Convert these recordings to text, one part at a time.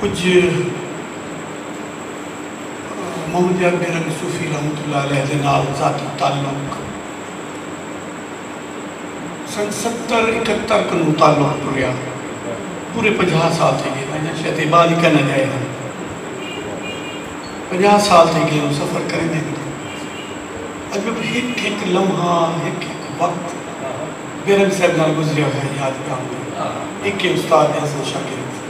کجھ محمد یار بیرنگ صوفی رحمت اللہ علیہ دے نال ذاتی تعلق سن ستر اکہتر کنوں تعلق ٹریا پورے پنجاہ سال تھئی گئے انجن شاید اے بعد ہی کینیڈا آئے ہن پنجاہ سال تھئی گئے ہوں سفر کریندے ہوندے اج میں ہک ہک لمحہ ہک ہک وقت بیرنگ صاحب نال گزریا ہویا یاد پیا آندے اے کے استاد حسن شاگرد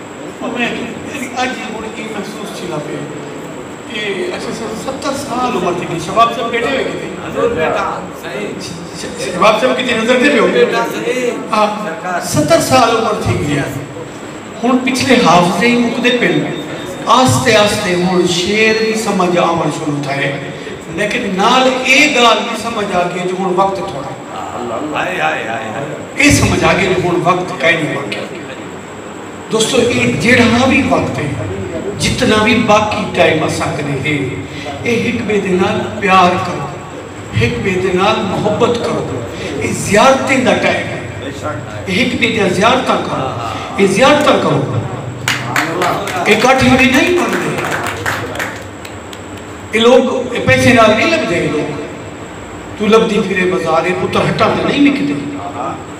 اویں میڈی اج وی ہن ایں محسوس تھیندا پئے کہ اساں ساڑھے ستر سال عمر تھی گئی شباب صاحب بیٹھے ہوئے کیتے حضور بیٹا شباب صاحب کیتے نظر دے پیو بیٹا سرکار ستر سال عمر تھی گئی ہن پچھلے حافظے ہی مکدے پن آستے آستے ہن شیر بھی سمجھ آون شروع تھائے لیکن نال اے گال بھی سمجھ آ گئے جو ہن وقت تھوڑا ہے اے سمجھ آ گئے جو ہن وقت کائیں نہیں باقی دوستو اے جیڑھا وی وقت ہے جتنا وی باقی ٹائم اساں کنے ہے اے ہک بے دے نال پیار کرو ہک بے دے نال محبت کرو اے زیارتیں دا ٹائم ہے اے ہک بے دے زیارتاں کرو اے زیارتاں کرو اے کٹ ہی نہیں پڑھ دے اے لوگ اے پیسے نال نہیں لگ دے لوگ تو لب دی پھرے بازارے پتر ہٹا دے نہیں لکھ دے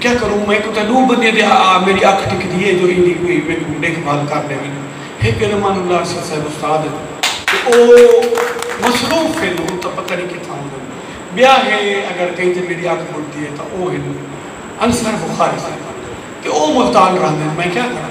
کیا کروں میں کوں تاں ݙو بندیاں دی آ آ میݙی اکھ ٹکدی اے جو ایندی کوئی میکوں ݙیکھ بھال کر ݙیون ہک تے رحمان اللہ ارشد صاحب استاد ہن تے او مصروف ہن ہن تاں پتہ نی کتھاں ہوندن ٻیا ہے اگر کہیں تے میݙی اکھ ٻݙدی اے تاں او ہن انصر بخاری صاحب تے او ملتان رہندے ہن میں کیا کراں۔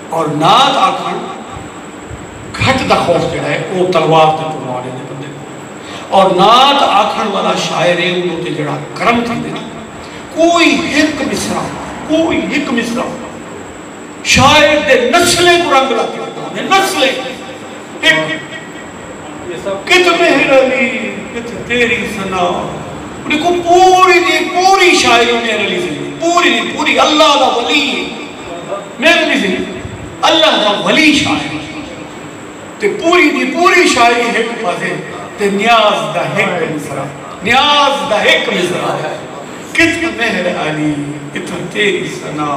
اور نعت آکھݨ گھٹ دا خوف جیڑھا ہے او تلوار تے پروان ایندے بندے کوں اور نعت آکھݨ والا شاعر ہے اودے اتے جیڑھا کرم تھیندے نا کوئی ہک مصرع کوئی ہک مصرع شاعر دے نسلیں کوں رنگ لا کے ݙتا ہوندے نسلیں ہک کتھ مہر علی کتھ تیری ثنا انہیں کوں پوری دی پوری شاعری مہر علی دی پوری دی پوری اللہ دا ولی ہے میرے نزیک اللہ دا ولی شاعر ہے تے پوری دی پوری شاعری ہک پزے تے نیاز دا ہک مصرعہ نیاز دا ہک مصرعہ ہے کتھے مہر علی کتھے تیری ثنا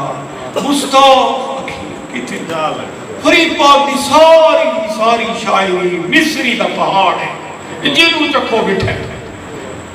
مستوق اکھی کتھے جا لگ فرید پاک دی ساری دی ساری شاعری مصری دا پہاڑ ہے جنوں چکھو بٹھے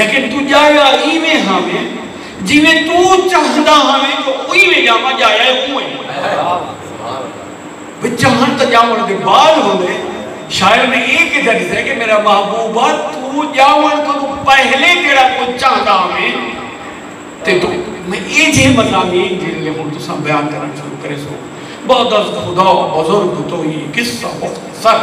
لیکن توں ڄایا ایویں ہاویں جیویں توں چاہندا ہاویں جو اوویں ڄاواں ڄایا اے اونویں وچ چاہݨ تاں ڄاوݨ دے بعد ہوندے شاعر نے اے کیتا ݙسیا کہ میرا محبوبا توں ڄاوݨ کنوں پہلے جیڑھا کجھ چاہندا ہاویں تے توں میں اے جیہے مضامین جیرھے ہݨ تساں بیان کرݨ شروع کریسو بعد از خدا بزرگ توئی قصہ مختصر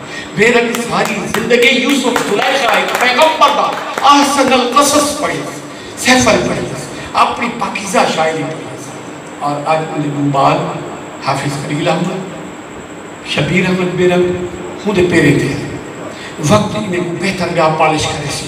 میرٹ ساری زندگی یوسف زلیخا اچ پیغمبر دا احسن القصص پڑھیا سی، سیفل پڑھیا سی، اپݨی پاکیزہ شاعری پڑھیا سی اور اڄ اوندے ݙو ٻال حافظ خلیل احمد، شبیر احمد بے رنگ ہوندے پیریں تھئے ہن۔ وقت انہیں کوں بہتر ٻیا پالش کریسی۔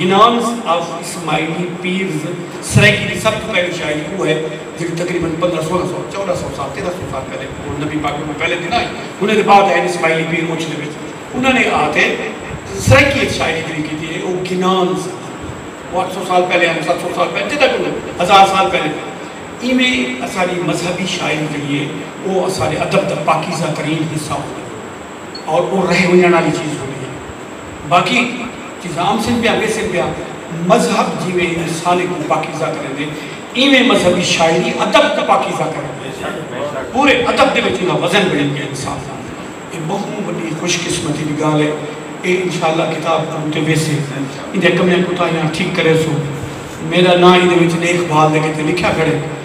گنانز آف اسماعیلی پیرز سرائیکی دی سب توں پہلی شاعری اوہ ہے جیڑھی تقریبا پندرہ سولہ سو چودہ سو سال تیرہ سو سال پہلے اوہ نبی پاک کولوں پہلے دی نہ ہئی انہاں دے بعد آئے اسماعیلی پیر اوچھلے وچ انہاں نے آ تے سرائیکی اچ شاعری جیڑھی کیتی ہے اوہ گنانز دی اوہ اٹھ سو سال پہلے آئے ست سو سال پہلے جداں کولوں ہزار سال پہلے ایویں اساڈی مذہبی شاعری جیڑھی ہے اوہ اساڈے ادب دا پاکیزہ ترین حصہ ہوندی ہے۔ اور او رہ ونجنڑ آلی چیز ہوندی ہے۔ باقی جیساں ام سن پیا ویسن پیا مذہب جیویں انسانی کوں پاکیزہ کریندے ایویں مذہبی شاعری ادب کوں پاکیزہ کریندی ہے۔ پورے ادب دے وچ اوندا وزن بنڑی پیا انسان دا۔ اے بہوں وڈی خوش قسمتی دی گالھ ہے۔ اے انشاء اللہ کتاب عروہ تے ویسے۔ ایندیاں کمیاں کوتاہیاں ٹھیک کریسوں۔ میڈا ناں ایندے وچ ڈیکھ بھال دے کیتے لکھیا کھڑے۔